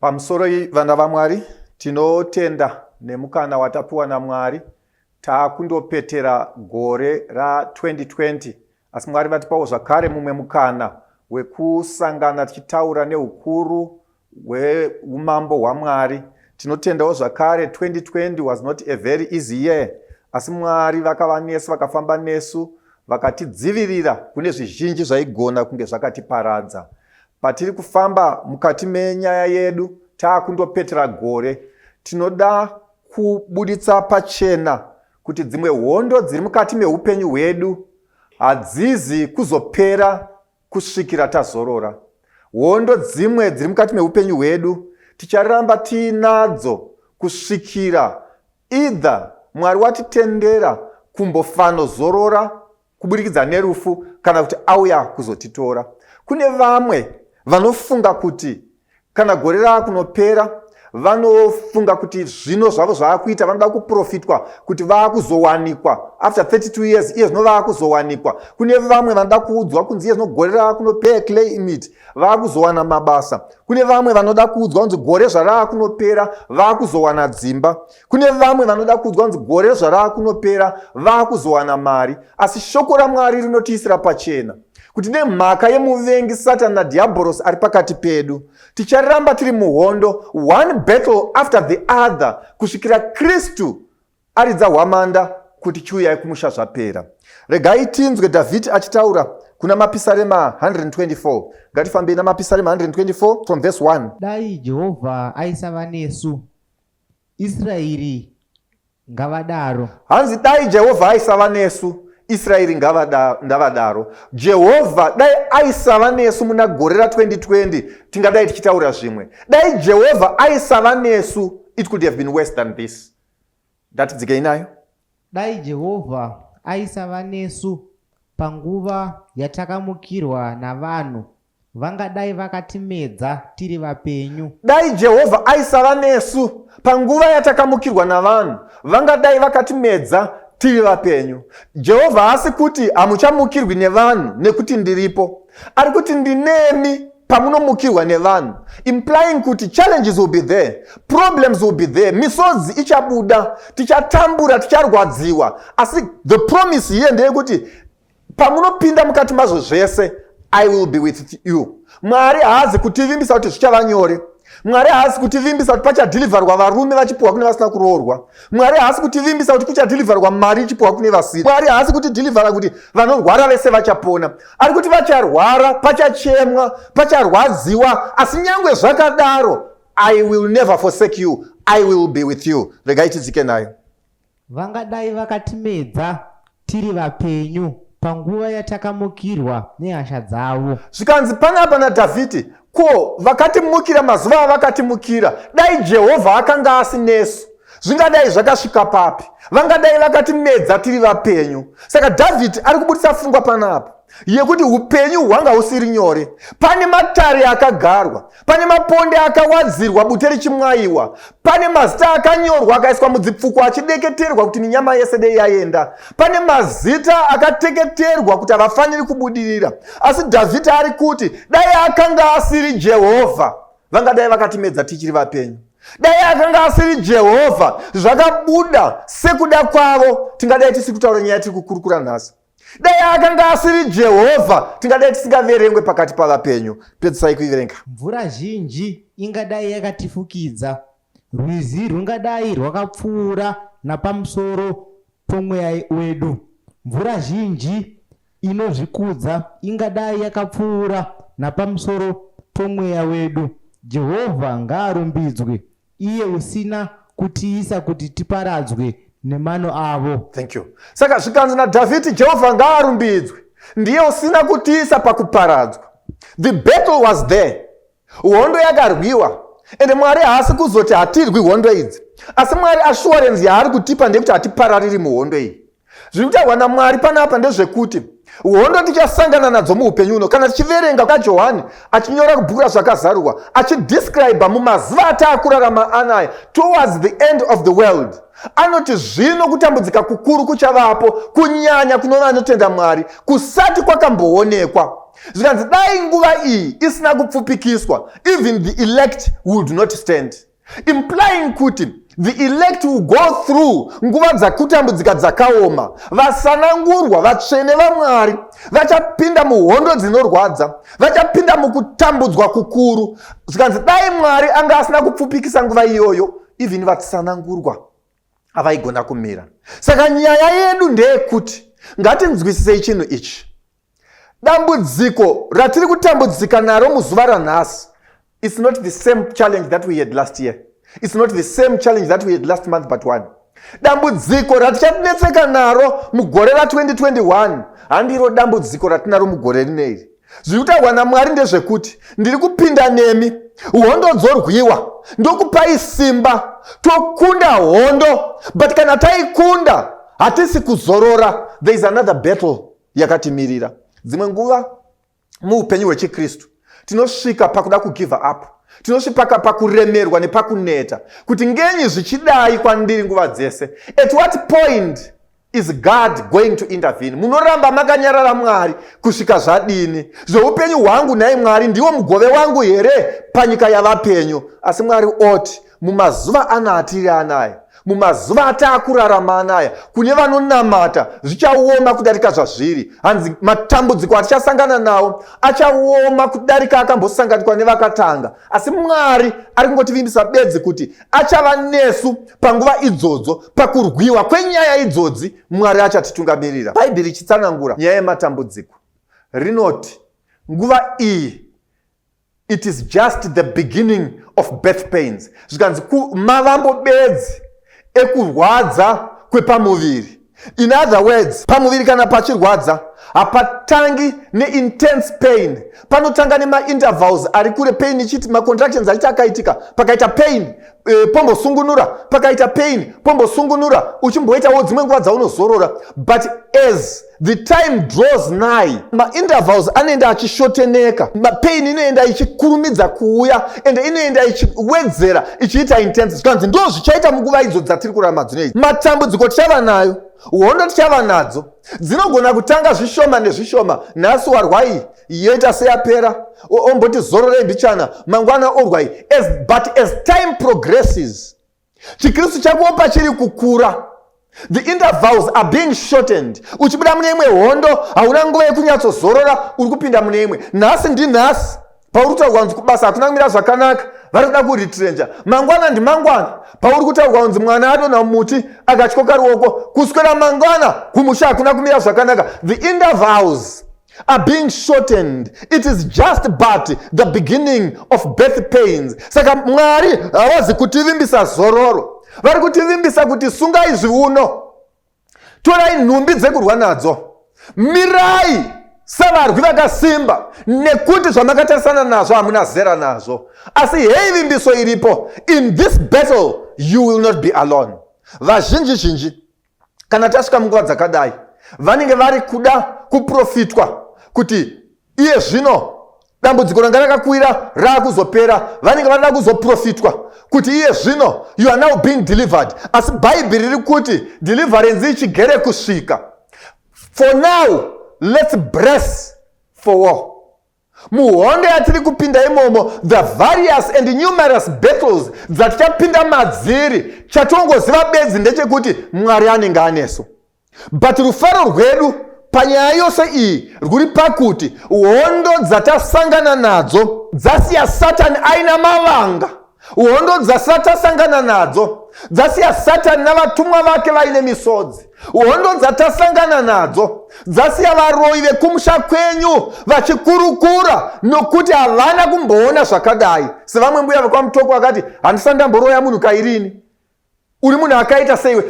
Pamusoro iyi vana vaMwari tinotenda nemukana watapiwa naMwari taakundopetera gore ra2020 asi Mwari vatipawo zvakare mumwe mukana wekusangana tichitaura neukuru hweumambo hwaMwari. Tinotendawo zvakare 2020 was not a very easy year asi Mwari vakava nesu vakafamba nesu vakatidzivirira kune zvizhinji zvaigona kunge zvakatiparadza. Patiri kufamba mukati menyaya yedu taakundopetera gore tinoda kubuditsa pachena kuti dzimwe hondo dziri mukati meupenyu hwedu hadzizi kuzopera Kusvikira tazorora, hondo dzimwe dziri mukati meupenyu hwedu ticharamba tiinadzo kusvikira either Mwari watitendera kumbofanozorora kuburikidza nerufu kana kuti auya kuzotitora. Kune vamwe vanofunga kuti kana gore rava kunopera vanofunga kuti zvino zvavo zvava kuita vanoda kuprofitwa kuti vava kuzowanikwa after 32 years iye zvino vava kuzowanikwa kune vamwe vanoda kuudzwa kunzi iye zvino gore rava kunopera claimit vava kuzowana mabasa kune vamwe vanoda kuudzwa kunzi gore zvarava kunopera vava kuzowana dzimba kune vamwe vanoda kuudzwa kunzi gore zvarava kunopera vava kuzowana mari asi shoko ramwari rinotiisira pachena kuti nemhaka yemuvengi satani nadhiabhorosi ari pakati pedu ticharamba tiri muhondo one battle after the other kusvikira kristu aridza hwamanda kuti chiuyai kumusha zvapera regai tinzwe dhavhidhi achitaura kuna mapisarema 124 ngatifambei namapisarema 124 from verse 1 dai jehovha aisava nesu Israeri ngavadaro. Hanzi dai Jehovha aisava nesu, Israeri ngavadaro. Jehovha dai aisava nesu muna gore ra 2020 tingadai tichitaura zvimwe. Dai Jehovha aisava nesu, it could have been worse than this. Ndatidzikei nayo. Dai Jehovha aisava nesu panguva yatakamukirwa navanhu Vangadai vakatimedza tiri vapenyu. Dai Jehovha aisava nesu panguva yatakamukirwa navanhu, vangadai vakatimedza tiri vapenyu. Jehovha haasi kuti hamuchamukirwi nevanhu nekuti ndiripo, ari kuti ndinemi pamunomukirwa nevanhu implying kuti challenges will be there problems will be there misodzi ichabuda tichatambura ticharwadziwa asi the promise here ndeyekuti pamunopinda mukati mazvo zvese i will be with you mwari haazi kutivimbisa kuti zvichava nyore mwari haasi kutivimbisa kuti pachadhilivharwa varume vachipiwa kune vasina kuroorwa mwari haasi kutivimbisa kuti kuchadhilivharwa mari ichipiwa kune vasiri mwari haasi kutidhilivhara kuti vanorwara vese vachapona ari kuti vacharwara pachachemwa pacharwadziwa asi nyange zvakadaro i will never forsake you i will be with you regai tidzike nayo Vangadai vakatimedza tiri vapenyu panguva yatakamukirwa nehasha dzavo. Zvikanzi panapa naDhavhidhi, Ko, vakatimukira mazuva avakatimukira, dai Jehovha akanga asi nesu, zvingadai zvakasvika papi? Vangadai vakatimedza tiri vapenyu. Saka Dhavhidhi ari kubudisa fungwa panapa. yekuti upenyu hwanga husiri nyore pane matare akagarwa pane maponde akawadzirwa bute richimwayiwa pane mazita akanyorwa akaiswa mudzipfuko achideketerwa kuti minyama yese dei yaenda pane mazita akateketerwa kuti havafaniri kubudirira asi dhavhidhi ari kuti dai akanga asiri jehovha vangadai vakatimedza tichiri vapenyu dai akanga asiri jehovha zvakabuda sekuda kwavo tingadai tisiri kutaura nyaya tiri kukurukura nhasi dai akanga asiri jehovha tingadai tisingaverengwe pakati pavapenyu pedzisai kuiverenga mvura zhinji ingadai yakatifukidza rwizi rwungadai rwakapfuura napamusoro pomweya wedu mvura zhinji inozvikudza ingadai yakapfuura napamusoro pomweya wedu jehovha ngaarumbidzwe Iye usina kutiisa kuti tiparadzwe nemano avo. Thank you. Saka zvikanzi naDhavhidhi, Jehovha ngaarumbidzwe, ndiye usina kutiisa pakuparadzwa. The battle was there. Hondo yakarwiwa ende Mwari haasi kuzoti hatirwi hondo idzi. Asi Mwari assurance yaari kutipa ndeyekuti hatiparariri muhondo iyi. Zviri kutaurwa naMwari panapa ndezvekuti hondo tichasangana nadzo muupenyu uno kana tichiverenga kajohani achinyora kubhuku razvakazarurwa achidescriba mumazuva ataakurarama anaya towards the end of the world anoti zvino kutambudzika kukuru kuchavapo kunyanya kunova anotenda mwari kusati kwakamboonekwa zvikanzi dai nguva iyi isina kupfupikiswa even the elect would not stand implying kuti the elect will go through nguva dzakutambudzika dzakaoma vasanangurwa vatsvene vamwari vachapinda muhondo dzinorwadza vachapinda mukutambudzwa kukuru zvikanzi dai mwari anga asina kupfupikisa nguva iyoyo even vatsanangurwa avaigona kumira saka nyaya yedu ndeyekuti ngatinzwisisei chinhu ichi dambudziko ratiri kutambudzika naro muzuva ranhasi its not the same challenge that we had last year its not the same challenge that we had last month but one dambudziko ratichatinetseka naro mugore ra2021 handiro dambudziko ratinaro mugore rine iri zviri kutaurwa namwari ndezvekuti ndiri kupinda nemi hondo dzorwiwa ndokupai simba tokunda hondo but kana taikunda hatisi kuzorora there is another battle yakatimirira dzimwe nguva muupenyu hwechikristu tinosvika pakuda kugiva up tinosvipaka pakuremerwa nepakuneta kuti ngenyi zvichidai kwandiri nguva dzese at what point is god going to intervene munoramba makanyarara mwari kusvika zvadini zveupenyu hwangu nhai mwari ndiwo mugove wangu here panyika yavapenyu asi mwari oti Mumazuva ano atiri anaya, mumazuva ataakurarama anaya, kune vanonamata zvichaoma kudarika zvazviri. Hanzi matambudziko atichasangana nawo achaoma kudarika akambosanganikwa nevakatanga. Asi Mwari ari kungotivimbisa bedzi kuti achava nesu panguva idzodzo, pakurwiwa kwenyaya idzodzi, Mwari achatitungamirira. Bhaibheri ichitsanangura nyaya yematambudziko rinoti nguva iyi it is just the beginning of birth pains zvikanzi mavambo bedzi ekurwadza kwepamuviri in other words pamuviri kana pachirwadza hapatangi neintense pain panotanga nemaintervals ari kure pain ichiti macontractions achiti akaitika pakaita pain e, pombosungunura pakaita pain pombosungunura uchimboitawo dzimwe nguva dzaunozorora but as the time draws nigh maintervals anoenda achishoteneka mapain inoenda ichikurumidza kuuya and inoenda ichiwedzera ichiita intense zvikanzi ndo zvichaita munguva idzo dzatiri kurarama dzino idzi matambudziko tichava nayo hondo tichava nadzo dzinogona kutanga zvishoma nezvishoma nhasi warwai yoita seyapera omboti zororei mbichana mangwana orwai but as time progresses chikristu chako pachiri kukura the intervals are being shortened uchibuda mune imwe hondo hauna nguva yekunyatsozorora uri kupinda mune imwe nhasi ndinhasi pauri kutaurwa kunzi kubasa hakuna kumira zvakanaka vari kuda kuritrenja mangwana ndimangwana pauri kutaurwa kunzi mwana adonha mumuti akatyoka ruoko kuswera mangwana kumusha hakuna kumira zvakanaka the intervals are being shortened it is just but the beginning of birth pains saka mwari havazi kutivimbisa zororo vari kutivimbisa kuti sungai zviuno torai nhumbi dzekurwa nadzo mirai sevarwi vakasimba nekuti zvamakatarisana nazvo hamuna zera nazvo asi hei vimbiso iripo in this battle you will not be alone vazhinji zhinji kana tasvika munguva dzakadai vanenge vari kuda kuprofitwa kuti iye zvino dambudziko ranga rakakwira raakuzopera vanenge vanoda kuzoprofitwa kuti iye zvino you are now being delivered asi bhaibheri riri kuti deliverance ichigere kusvika for now let's bress for war Muhondo yatiri kupinda imomo, the various and numerous battles dzatichapinda madziri, chatongoziva bedzi ndechekuti Mwari anenge anesu. But rufaro rwedu panyaya yose iyi rwuri pakuti hondo dzatasangana nadzo dzasiya Satani aina mavanga. Hondo dzasati asangana nadzo dzasiya satani navatumwa vake vaine misodzi hondo dzatasangana nadzo dzasiya varoyi vekumusha kwenyu vachikurukura nokuti havana kumboona zvakadai sevamwe mbuya vekwamutoko vakati handisati ndamboroya munhu kairini uri munhu akaita seiwe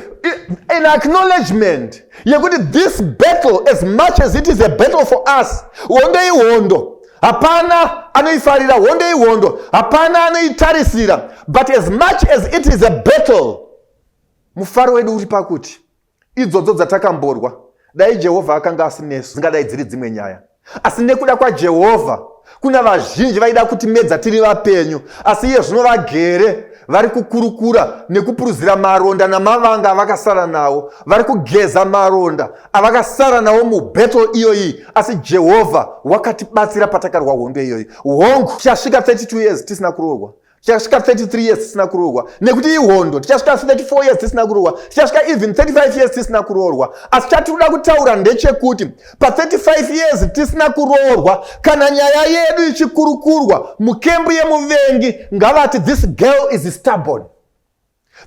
an acknowledgement yekuti this battle as much as it is a battle for us hondo ihondo hapana anoifarira hondo ihondo hapana anoitarisira but as much as it is a battle mufaro wedu uri pakuti idzodzo dzatakamborwa dai jehovha akanga asinesu dzingadai dziri dzimwe nyaya asi nekuda kwajehovha kuna vazhinji vaida kuti medza tiri vapenyu asi iye zvino vagere vari kukurukura nekupuruzira maronda namavanga avakasara nawo vari kugeza maronda avakasara nawo mubettle iyoyi asi jehovha wakatibatsira patakarwa hondo iyoyi hongu tichasvika 32 years tisina kuroorwa tichasvika 33 years tisina kuroorwa nekuti ihondo tichasvika 34 years tisina kuroorwa tichasvika even 35 years tisina kuroorwa asi chatinoda kutaura ndechekuti pa35 years tisina kuroorwa kana nyaya yedu ichikurukurwa mukembu yemuvengi ngavati this girl is stubborn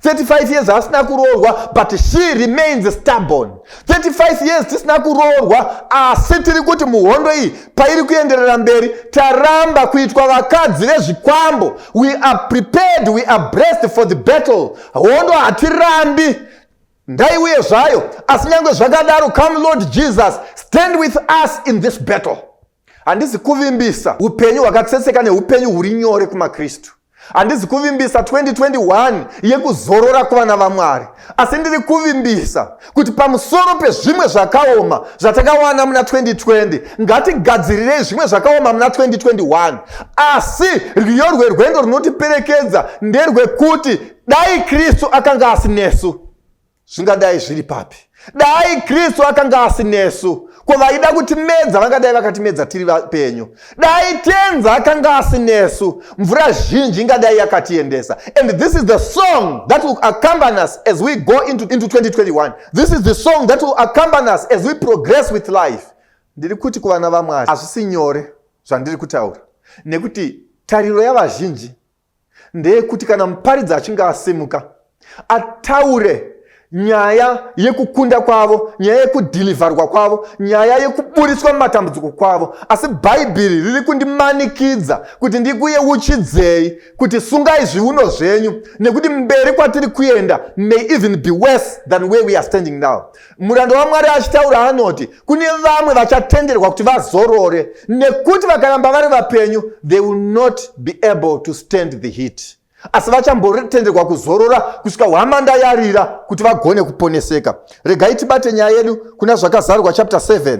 35 years asina kuroorwa but she remains stubborn 35 years tisina kuroorwa asi tiri kuti muhondo iyi pairi kuenderera mberi taramba kuitwa vakadzi vezvikwambo we are prepared we are brest for the battle hondo hatirambi ndaiuye zvayo asi nyange zvakadaro come lord jesus stand with us in this battle handizi kuvimbisa upenyu hwakatsetseka neupenyu huri nyore kumakristu handizi kuvimbisa 2021 yekuzorora kuvana vamwari asi ndiri kuvimbisa kuti pamusoro pezvimwe zvakaoma zvatakawana muna 2020 ngatigadzirirei zvimwe zvakaoma muna 2021 asi rwiyo rwerwendo runotiperekedza nderwekuti dai kristu akanga asinesu zvingadai zviri papi dai kristu akanga asinesu ko vaida kutimedza vangadai vakatimedza tiri vapenyu dai tenzi akanga asinesu mvura zhinji ingadai yakatiendesa and this is the song that will accompany us as we go into, into 2021 this is the song that will accompany us as we progress with life ndiri kuti kuvana vamwari hazvisi nyore zvandiri kutaura nekuti tariro yavazhinji ndeyekuti kana muparidzi achinge asimuka ataure nyaya yekukunda kwavo nyaya yekudhilivharwa kwavo nyaya yekuburitswa mumatambudziko kwavo asi bhaibheri riri kundimanikidza kuti ndikuyeuchidzei kuti sungai zviuno zvenyu nekuti mberi kwatiri kuenda may even be worse than where we are standing now Muranda waMwari achitaura anoti kune vamwe vachatenderwa kuti vazorore nekuti vakaramba vari vapenyu they will not be able to stand the heat, asi vachambotenderwa kuzorora kusvika hwamanda yarira kuti vagone kuponeseka. Regai tibate nyaya yedu kuna Zvakazarurwa chapter 7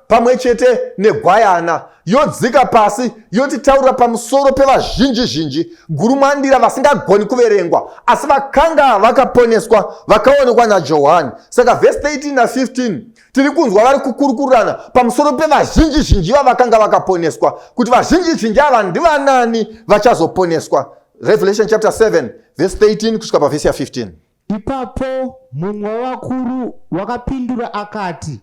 pamwe chete negwayana yodzika pasi yotitaurira pamusoro pevazhinji zhinji gurumwandira vasingagoni kuverengwa asi vakanga vakaponeswa vakaonekwa najohani saka vhesi 13 na15 tiri kunzwa vari kukurukurirana pamusoro pevazhinji zhinji vavakanga vakaponeswa kuti vazhinji zhinji ava ndivanani vachazoponeswa revelation chapter 7 vhesi 13 kusvika pavhesi ya15 ipapo mumwe wevakuru wakapindura akati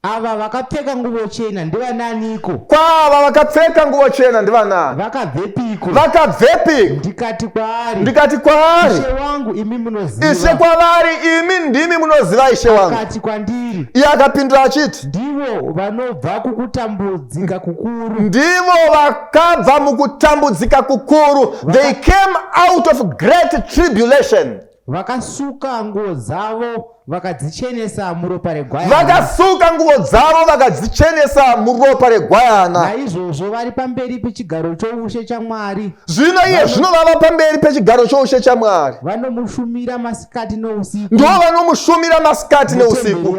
ava vakapfeka nguvo chena ndivananiko kwaava vakapfeka nguvo chena ndivanani vakabvepiko vakabvepiko ndikati kwaari ndikati kwaari ishe wangu imi munoziva ishe kwavari imi ndimi munoziva ishe wangu akati kwandiri iye akapindura achiti ndivo vanobva kukutambudzika kukuru ndivo vakabva mukutambudzika kukuru they came out of great tribulation Vakasuka nguo dzavo vakadzichenesa muropa regwayana. Vakasuka nguo dzavo vakadzichenesa muropa regwayana. Naizvozvo vari pamberi pechigaro choushe chaMwari. Zvino iye zvino vava pamberi pechigaro choushe chaMwari. Vanomushumira masikati nousiku. Ndivo vanomushumira masikati neusiku.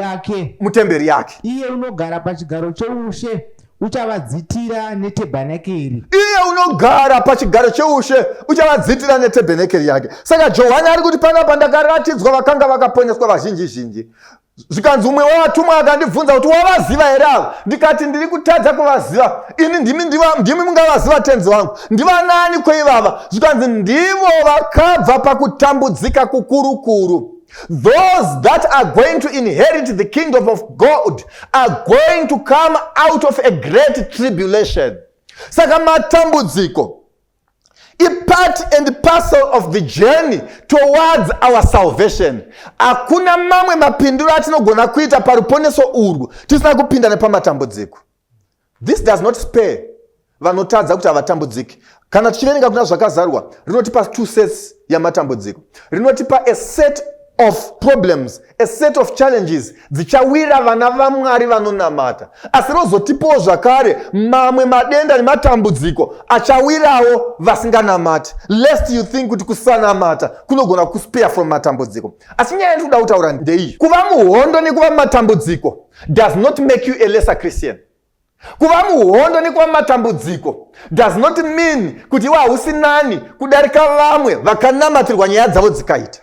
Mutemberi yake. Iye unogara pachigaro choushe uchavadzitira netebhenekeri iye unogara pachigaro cheushe uchavadzitira netebhenekeri yake saka johani ari kuti panapa ndakaratidzwa vakanga vakaponeswa vazhinji zhinji zvikanzi umwe wevatumwa akandibvunza kuti wavaziva here avo ndikati ndiri kutadza kuvaziva ini ndimi ndimi mungavaziva tenzi wangu ndivanaani kweivava zvikanzi ndivo vakabva pakutambudzika kukurukuru Those that are going to inherit the kingdom of God are going to come out of a great tribulation. Saka matambudziko ipart and parcel of the journey towards our salvation hakuna mamwe mapindiro atinogona kuita paruponeso urwu tisina kupinda nepamatambudziko This does not spare vanotadza kuti havatambudziki. Kana tichiverenga kuna zvakazarwa, rinotipa two sets yamatambudziko. Rinotipa a set of problems a set of challenges dzichawira vana vamwari vanonamata asi rozotipawo zvakare mamwe madenda nematambudziko achawirawo vasinganamati lest you think kuti kusanamata kunogona kuspare from matambudziko asi nyaya yandikuda kutaura ndeiyi kuva muhondo nekuva matambudziko does not make you a lesser christian kuva muhondo nekuva matambudziko does not mean kuti iwe hausi nani kudarika vamwe vakanamatirwa nyaya dzavo dzikaita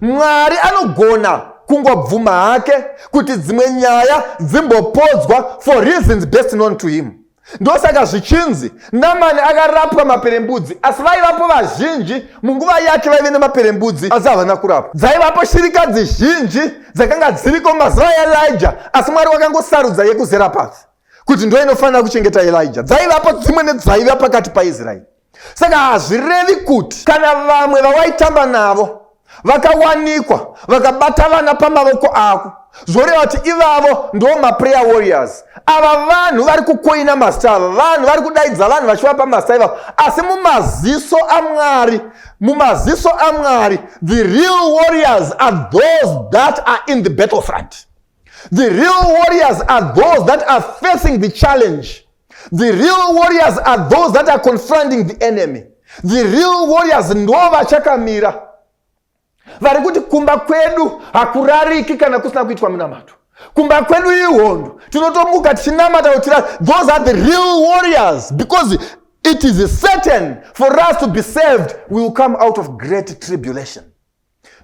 mwari anogona kungobvuma hake kuti dzimwe nyaya dzimbopodzwa for reasons best known to him ndosaka zvichinzi namani akarapwa maperembudzi asi vaivapo vazhinji munguva yake vaive nemaperembudzi asi havana kurapwa dzaivapo shirikadzi zhinji dzakanga dziriko mazuva yaelija asi mwari wakangosarudza yekuzera pasi kuti ndo inofanira kuchengeta elija dzaivapo dzimwe nedzaiva pakati paisraeri saka hazvirevi kuti kana vamwe vawaitamba navo vakawanikwa vakabata vana pamavoko ako zvoreva kuti ivavo ndo maprayer warriors ava vanhu vari kukoina mazita ava vanhu vari kudaidza vanhu vachivapa mazita ivavo asi mumaziso amwari mumaziso amwari the real warriors are those that are in the battle front the real warriors are those that are facing the challenge The real warriors are those that are confronting the enemy. The real warriors ndo vachakamira vari kuti kumba kwedu hakurariki kana kusina kuitwa munamato kumba kwedu ihondo tinotomuka tichinamata kutira those are the real warriors because it is certain for us to be saved we will come out of great tribulation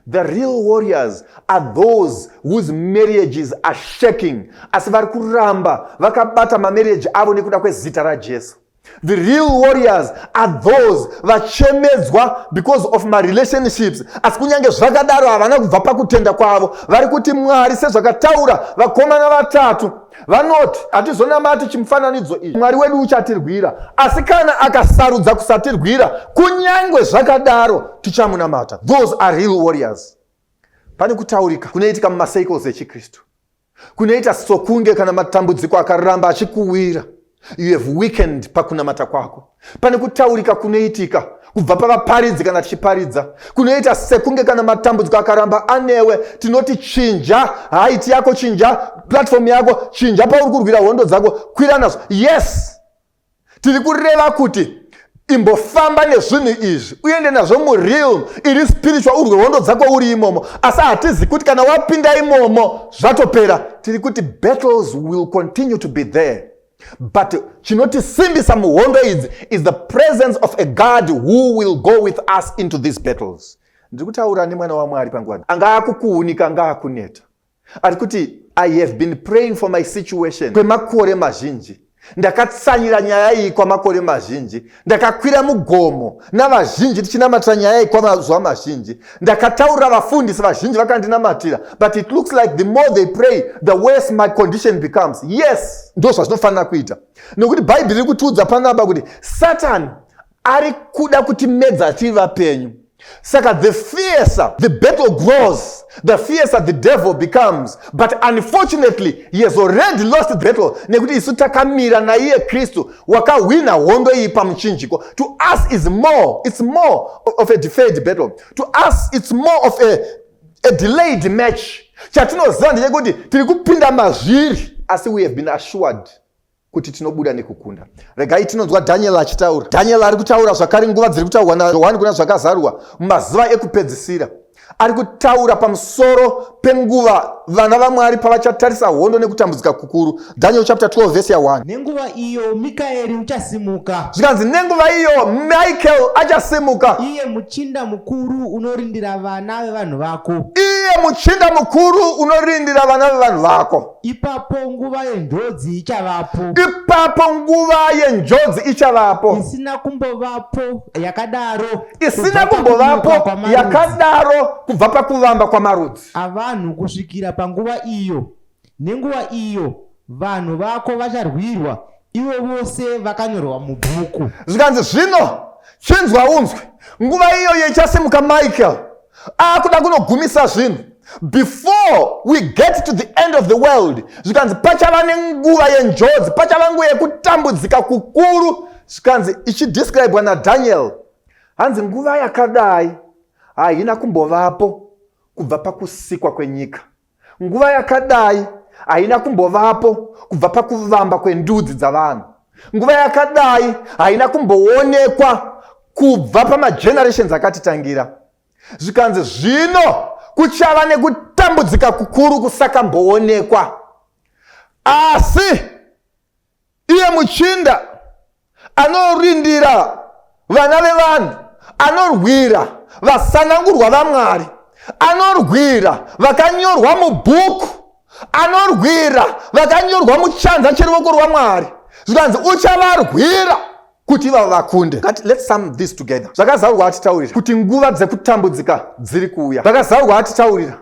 The real warriors are those whose marriages are shaking asi vari kuramba vakabata mamarriage avo nekuda kwezita raJesu. The real warriors are those vachemedzwa because of my relationships asi kunyange zvakadaro havana kubva pakutenda kwavo vari kuti Mwari sezvakataura vakomana vatatu Vanoti, Hatizonamati chimufananidzo ichi, Mwari wedu uchatirwira, asi kana akasarudza kusatirwira, kunyange zvakadaro tichamunamata. Those are real warriors. Pane kutaurika kunoitika mumacycles echiKristu kunoita sokunge kana matambudziko akaramba achikuwira you have weekend pakunamata kwako pane kutaurika kunoitika kubva pavaparidzi kana tichiparidza kunoita sekunge kana matambudziko akaramba anewe tinoti chinja haiti yako chinja platform yako chinja pauri kurwira hondo dzako kwira nazo yes tiri kureva kuti imbofamba nezvinhu izvi uende nazvo mureal iri spiritual urwe hondo dzako uri imomo asi hatizi kuti kana wapinda imomo zvatopera tiri kuti battles will continue to be there but chinotisimbisa muhondo idzi is the presence of a god who will go with us into these battles ndiri kutaura nemwana wamwari panguva anga akukuunika anga akuneta ari kuti i have been praying for my situation kwemakore mazhinji ndakatsanyira nyaya iyi kwamakore mazhinji ndakakwira mugomo navazhinji tichinamatira nyaya iyi kwamazuva mazhinji ndakataurira vafundisi vazhinji vakandinamatira but it looks like the more they pray the worse my condition becomes yes ndo zvazvinofanira kuita nokuti bhaibheri riri kutiudza panaba kuti satani ari kuda kuti medza tiri vapenyu saka the fiercer the battle grows the fiercer the devil becomes but unfortunately he has already lost the battle nekuti isu takamira naiye kristu wakahwina hondo iyi pamuchinjiko to us is more it's more of a deferred battle to us it's more of a, a delayed match chatinoziva ndechekuti tiri kupinda mazviri asi we have been assured kuti tinobuda nekukunda regai tinonzwa dhaniel achitaura dhaniel ari kutaura zvakare nguva dziri kutaurwa najohani kuna zvakazarwa mumazuva ekupedzisira ari kutaura pamusoro penguva vana vamwari pavachatarisa hondo nekutambudzika kukuru daniel chapter 12 vese ya 1 nenguva iyo mikaeri uchasimuka zvikanzi nenguva iyo michael achasimuka iye muchinda mukuru unorindira vana vevanhu vako iye muchinda mukuru unorindira vana vevanhu vako Ipapo nguva yenjodzi ichavapo. Ipapo nguva yenjodzi ichavapo. Isina kumbovapo yakadaro. Isina kumbovapo yakadaro kubva pakuvamba kwamarudzi. Avanhu kusvikira panguva iyo. Nenguva iyo vanhu vako vacharwirwa ivo vose vakanyorwa mubhuku. Zvikanzi zvino chinzwa unzwe nguva iyoyo ichasimuka Michael. akuda kunogumisa zvinhu before we get to the end of the world zvikanzi pachava nenguva yenjodzi pachava nguva yekutambudzika kukuru zvikanzi ichidescribwa nadaniel hanzi nguva yakadai haina kumbovapo kubva pakusikwa kwenyika Nguva yakadai haina kumbovapo kubva pakuvamba kwendudzi dzavanhu. Nguva yakadai haina kumboonekwa kubva pamagenerations akatitangira. Zvikanzi zvino kuchava nekutambudzika kukuru kusakamboonekwa. Asi Iye muchinda anorindira vana vevanhu, anorwira vasanangurwa vaMwari, anorwira vakanyorwa mubhuku, anorwira vakanyorwa muchanza cheruoko rwaMwari, zvikanzi uchavarwira kuti ivavo vakunde let's sum this together zvakazarurwa atitaurira kuti nguva dzekutambudzika dziri kuuya zvakazarurwa atitaurira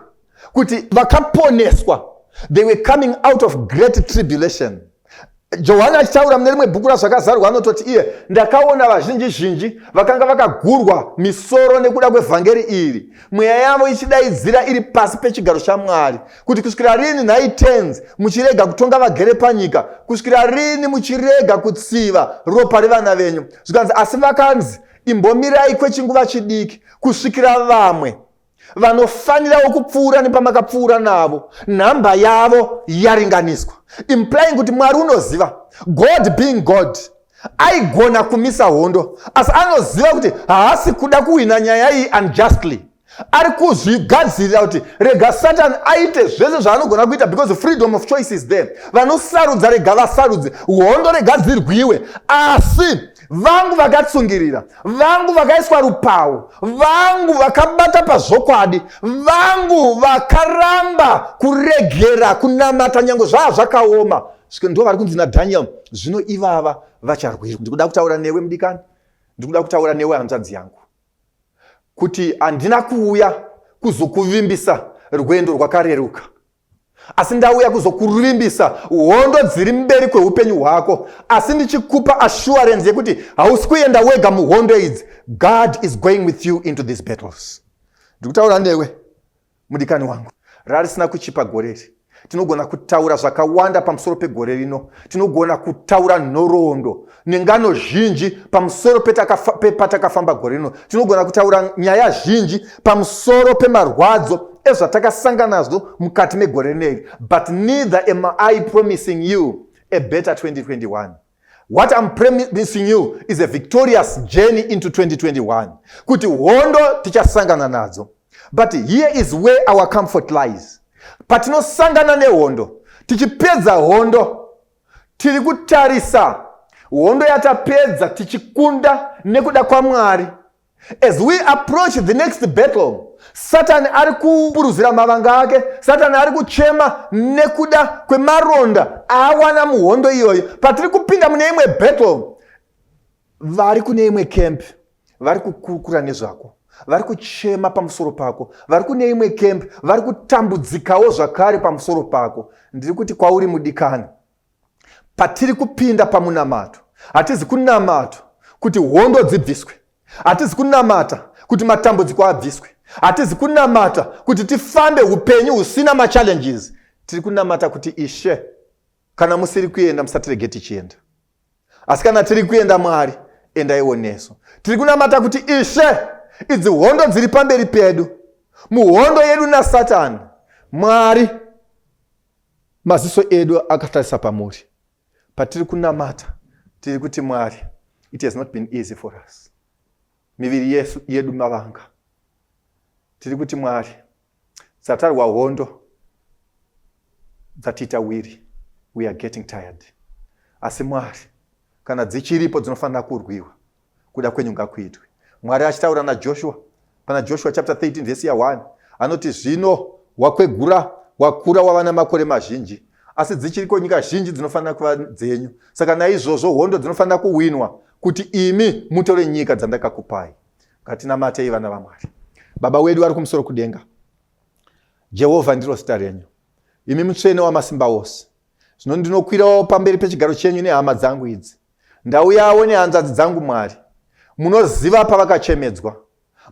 kuti vakaponeswa they were coming out of great tribulation johani achitaura mune rimwe bhuku razvakazarwa anototi iye ndakaona vazhinji zhinji vakanga vakagurwa misoro nekuda kwevhangeri iri mweya yavo ichidaidzira iri pasi pechigaro chamwari kuti kusvikira rini nhai tens muchirega kutonga vagere panyika kusvikira rini muchirega kutsiva ropa revana venyu zvikanzi asi vakanzi imbomirai kwechinguva chidiki kusvikira vamwe vanofanirawo kupfuura nepamakapfuura navo nhamba yavo yaringaniswa implying kuti mwari unoziva god being god aigona kumisa hondo asi anoziva kuti haasi kuda kuhwina nyaya iyi unjustly ari kuzvigadzirira kuti rega satani aite zvese zvaanogona kuita because freedom of choice is there vanosarudza rega vasarudze hondo rega dzirwiwe asi vangu vakatsungirira vangu vakaiswa rupawo vangu vakabata pazvokwadi vangu vakaramba kuregera kunamata nyange zvaa zvakaoma ndo vari kunzi nadaniel zvino ivava vacharwirwa ndikuda kutaura newe mudikani ndikuda kutaura newe hanzvadzi yangu kuti handina kuuya kuzokuvimbisa rwendo rwakareruka asi ndauya kuzokuvimbisa hondo dziri mberi kweupenyu hwako asi ndichikupa assurance yekuti hausi kuenda wega muhondo idzi god is going with you into these battles ndikutaura newe mudikani wangu rarisina kuchipa gore iri tinogona kutaura zvakawanda pamusoro pegore rino tinogona kutaura nhoroondo nengano zhinji pamusoro pepatakafamba gore rino tinogona kutaura nyaya zhinji pamusoro pemarwadzo ezvatakasangana nazvo mukati megore rineri but neither am i promising you a better 2021 what iam promising you is a victorious journey into 2021 kuti hondo tichasangana nadzo but here is where our comfort lies patinosangana nehondo tichipedza hondo Tiri kutarisa hondo yatapedza tichikunda nekuda kwaMwari. As we approach the next battle, satani ari kupuruzira mavanga ake satani ari kuchema nekuda kwemaronda aawana muhondo iyoyo patiri kupinda mune imwe battle vari kune imwe camp vari kukurukura nezvako vari kuchema pamusoro pako vari kune imwe camp vari kutambudzikawo zvakare pamusoro pako ndiri kuti kwauri mudikani patiri kupinda pamunamato hatizi kunamata kuti hondo dzibviswe hatizi kunamata kuti matambudziko abviswe hatizi kunamata kuti tifambe upenyu husina machallenges tiri kunamata kuti ishe kana musiri kuenda musatirege tichienda asi kana tiri kuenda mwari endaiwo nesu tiri kunamata kuti ishe idzi hondo dziri pamberi pedu muhondo yedu nasatani mwari maziso edu akatarisa pamuri patiri kunamata tiri kuti mwari it has not been easy for us miviri yesu yedu mavanga tiri kuti mwari Dzatarwa hondo dzatiita wiri, we are getting tired. Asi Mwari, kana dzichiripo dzinofanira kurwiwa, kuda kwenyu ngakuitwe. Mwari achitaura naJoshua pana Joshua chapter 13 verse ya 1 anoti zvino wakwegura wakura wava namakore mazhinji asi dzichiriko nyika zhinji dzinofanira kuva dzenyu saka naizvozvo hondo dzinofanira kuwinwa kuti imi mutore nyika dzandakakupai Ngatinamatei vana vaMwari. Baba wedu vari kumusoro kudenga, Jehovha ndiro zita renyu, imi mutsvene wamasimba ose. Zvino ndinokwirawo pamberi pechigaro chenyu nehama dzangu idzi, ndauyawo nehanzvadzi dzangu Mwari. Munoziva pavakachemedzwa,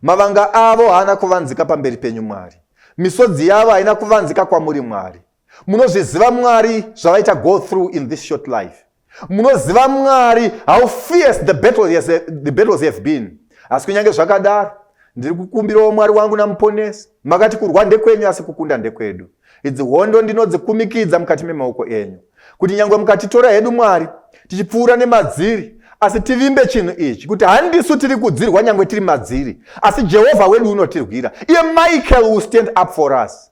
mavanga avo haana kuvanzika pamberi penyu Mwari, misodzi yavo haina kuvanzika kwamuri Mwari. munozviziva mwari zvavaita go through in this short life munoziva mwari how fierce the battles, yes, the battles have been asi kunyange zvakadaro ndiri kukumbirawo mwari wangu namuponesi makati kurwa ndekwenyu asi kukunda ndekwedu idzi hondo ndinodzikumikidza mukati memaoko enyu kuti nyange mukatitora hedu mwari tichipfuura nemadziri asi tivimbe chinhu ichi kuti handisu tiri kudzirwa nyange tiri madziri asi jehovha wedu unotirwira iye michael will stand up for us